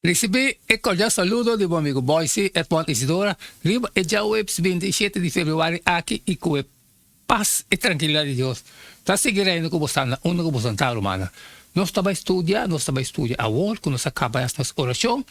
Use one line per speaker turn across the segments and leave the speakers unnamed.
Ricibi e cordial saludo di bo amigo Boyce Edmond Isidora riba e djaweps binti i shete di februari aki i cu e paz i trankilidad di Dios ta sigui reina cu bo sanda unda cu bo santa rumannan. Nos ta bay studia, nos ta bay studia awor cu nos a caba nos oracion.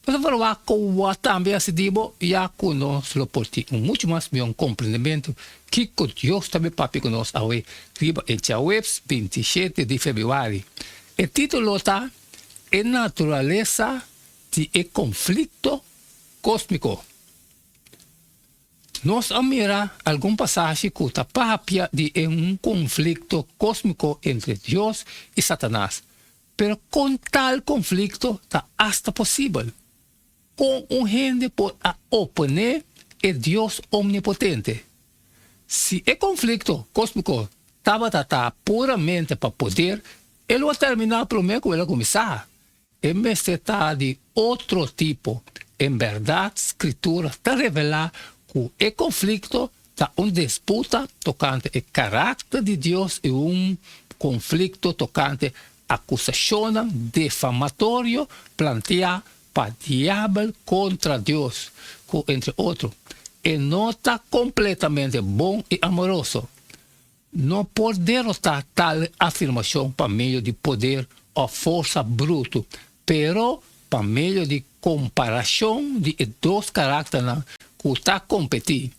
Nos a valua kowa tambe hasi di bo ya ku nos lo por tin un muchu mas mion komprendementu kiko Dios ta bin papia ku nos awe riba e djaweps binti shete di februari. E titulo ta, E naturalesa di e konflikto kósmiko. Nos a mira algun pasashi ku ta papia di un konflikto kósmiko entre Dios i Satanas. Pero kon tal konflikto ta asta posibel? Kon un hende por a oponé e Dios Omnipotente? Si e konflikto kos por kos tabata ta puramente pa poder, e lo a terminá promé ku el a kuminsá. E mester ta di otro tipo. En bèrdat, Skritura ta revelá ku e konflikto Ta un disputa tokante e karakter di Dios i un konflikto tokante akusashonnan difamatorio planteá pa diabel kontra Dios, ku entre otro, e no ta kompletamente bon i amoroso. No por derotá tal afirmashon pa medio di poder òf forsa brutu, pero pa medio di komparashon di e dos karakternan ku ta kompetí.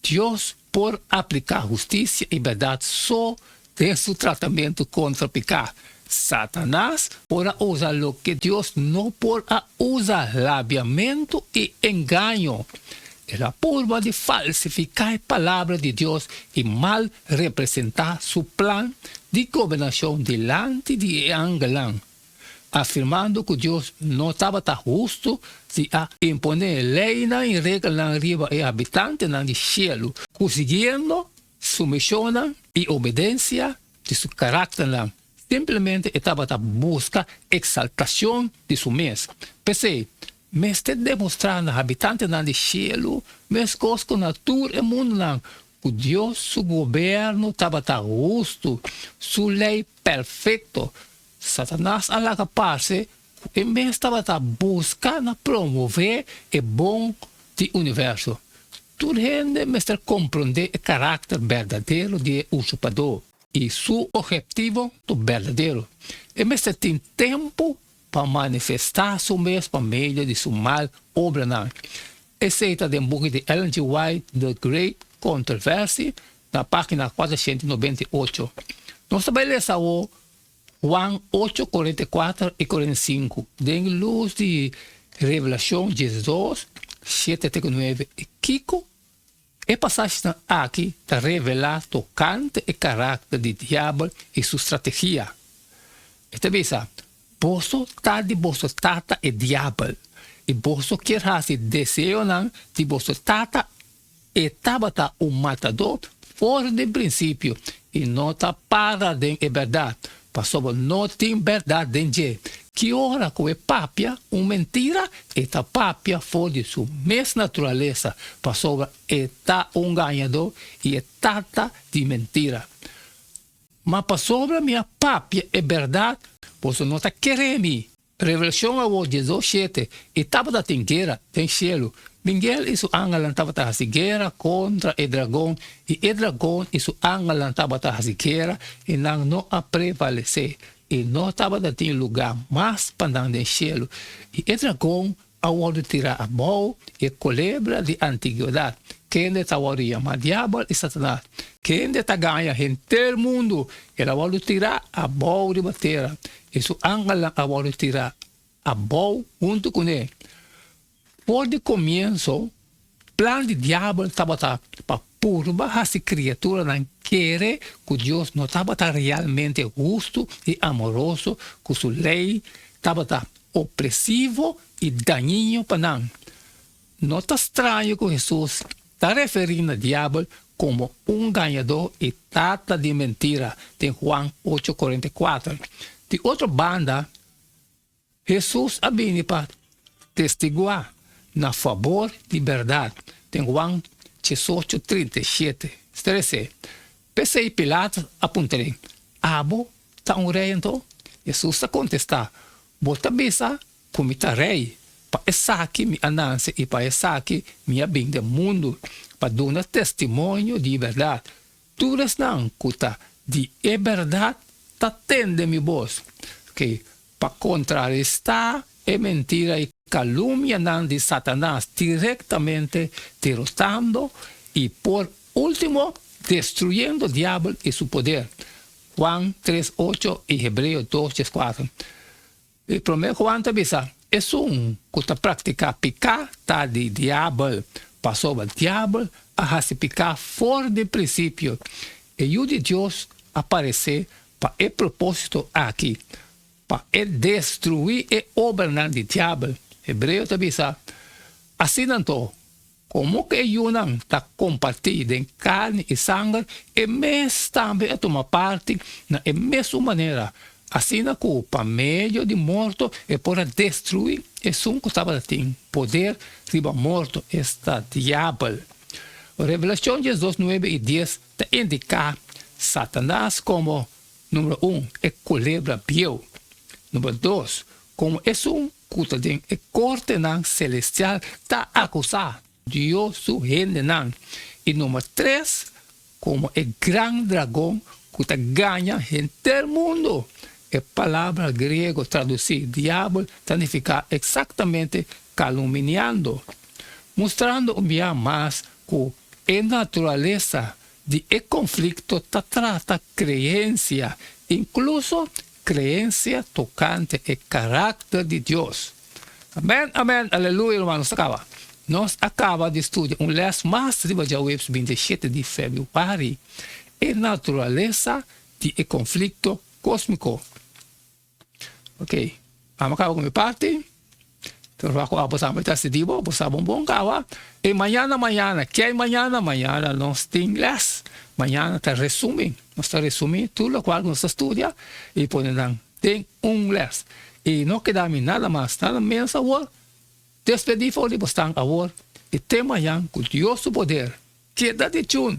Dios por apliká hustisia i bèrdat so den su tratamentu kontra piká, Satanas por a usa loke Dios no por a usa, labiamentu i engaño. El a purba di falsifiká e palabra di Dios i mal representá su plan di gobernashon dilanti di e angelnan, afirmando ku Dios no tabata hustu si a imponé leinan i regelnan riba e habitantenan di shelu, ku siguiendo sumishonnan i obedensia di su karakternan, simplemente e tabata buska eksaltashon di su mes. P'esei, mester demostrá na habitantenan di shelu meskos ku na tur e mundunan ku Dios su gobernu tabata hustu, su lei perfekto. Satanas a laga parse ku e mes tabata buska na promové e bon di universo. Tur hende mester komprondé e karakter berdadero di e usurpadó i su ogheptivo berdadero. E mester tin tempu pa manifestá su mes pa medio di su mal obranan. Esei ta den buki di Ellen G. White The Great Controversy, na página kuatrocientu nobenta i ocho. Nos ta bai lesa awor Juan ocho korenta i kuater i korenta i sinku, Den lus di revelashon dje dos, shete te ku nueve, kiko? E pasashinan aki ta revelá tokante e karakter di diabel i su strategia. E ta bisa, Boso ta di boso tata e diabel, i boso kier hasi deseonan di boso tata. E tabata un matadó for den principio i no ta para den e berdad, pasobra no tin berdad den dje. Ki ora ku e papia un mentira, e ta papia for di su mes naturalesa, pasobra e ta un gañadó i e tata di mentira. Ma pasobra mi a papia e berdad, boso no ta kere mi. Revelashon awor diezdos shete, i tabata tin guera den shelu. Mingel i su angelnan tabata hasi guera kontra e dragon, i e dragon i su angelnan tabata hasi guera, i nan no a prevalesé. I no tabata tin lugá mas pa nan den shelu. I e dragon a wòrdu tirá abou i e kolebra di antigwedat, kende ta wòrdu yamá Diabel i Satanas, kende ta gaña henter mundu, el a wòrdu tirá abou riba tera i su angelnan a wòrdu tirá abou huntu ku ne. For di komienso Plan di Diabel tabata pa purba hasi kriaturanan kere ku Dios no tabata realmente hustu i amoroso, ku su lei tabata opresivo i dañiño pa nan. No ta straño ku Hesus ta referí na Diabel komo un gañadó i tata di mentira den Juan ocho kuarenta i kuater. Di otro banda, Hesus a bini pa testiguá na fabor di bèrdat, den Juan diesocho trinta i shete. Trese. P'esei Pilatus a puntra lei, Abo ta un rei anto? Hesus a kontestá, Bo ta bisa ku mi ta rei. Pa esaki mi a nase i pa esaki mi a bin den mundu, pa duna testimonio di bèrdat. Tur esnan ku ta di e bèrdat ta tende mi bos, ke pa kontrarestá e mentira i kalumnianan di Satanas direktamente derotando i por último destruyendo diabel i su poder, Juan tres ocho i Hebreo dos dies kuater. E promé Juan ta bisa, Esun ku ta praktiká piká ta di Diabel, pasobra Diabel a hasi piká for di prinsipio. E Yu di Dios a paresé pa e propósito akí, pa e destruí e obranan di Diabel. Hebreo ta bisa, Asina anto, Komo ku e yunan ta kompartí den karni i sanger, e mes tambe a tuma parti na e mesun manera, asina ku pa medio di morto e por a destruí esun ku tabata tin poder riba morto, esta Diabel. Revelashon diesdos nuebe i dies ta indiká Satanas komo, Numero un, e kulebra bieu, Numero dos, komo esun ku ta den e kortenan selestial ta akusá Dios su hendenan, i number tres, komo e gran dragon ku ta gaña henter mundu. E palabra griego tradusí diabel ta nifiká eksaktamente kaluminiando, mustrando un bia mas ku e naturalesa di e konflikto ta trata kreensia, inkluso Creencia tocante e caracter di Dios. Amen amen aleluya hermanos ta caba nos a caba di studia un les mas riba djahuebs bintisiete di febuari e naturalesa di e conflicto cosmico ok amo caba cu mi parti. Trova ku abo tambe ta stidi bo bo sa bon bon kawa e mañana mañana ke hay mañana mañana nos tin lès mañana ta resumi nos ta resumi tur lokual ku nos ta studia i pone nan den un lès i no keda mi nada mas nada menos awor despedi for di bosnan awor i te mañan ku dios su poder keda dichun.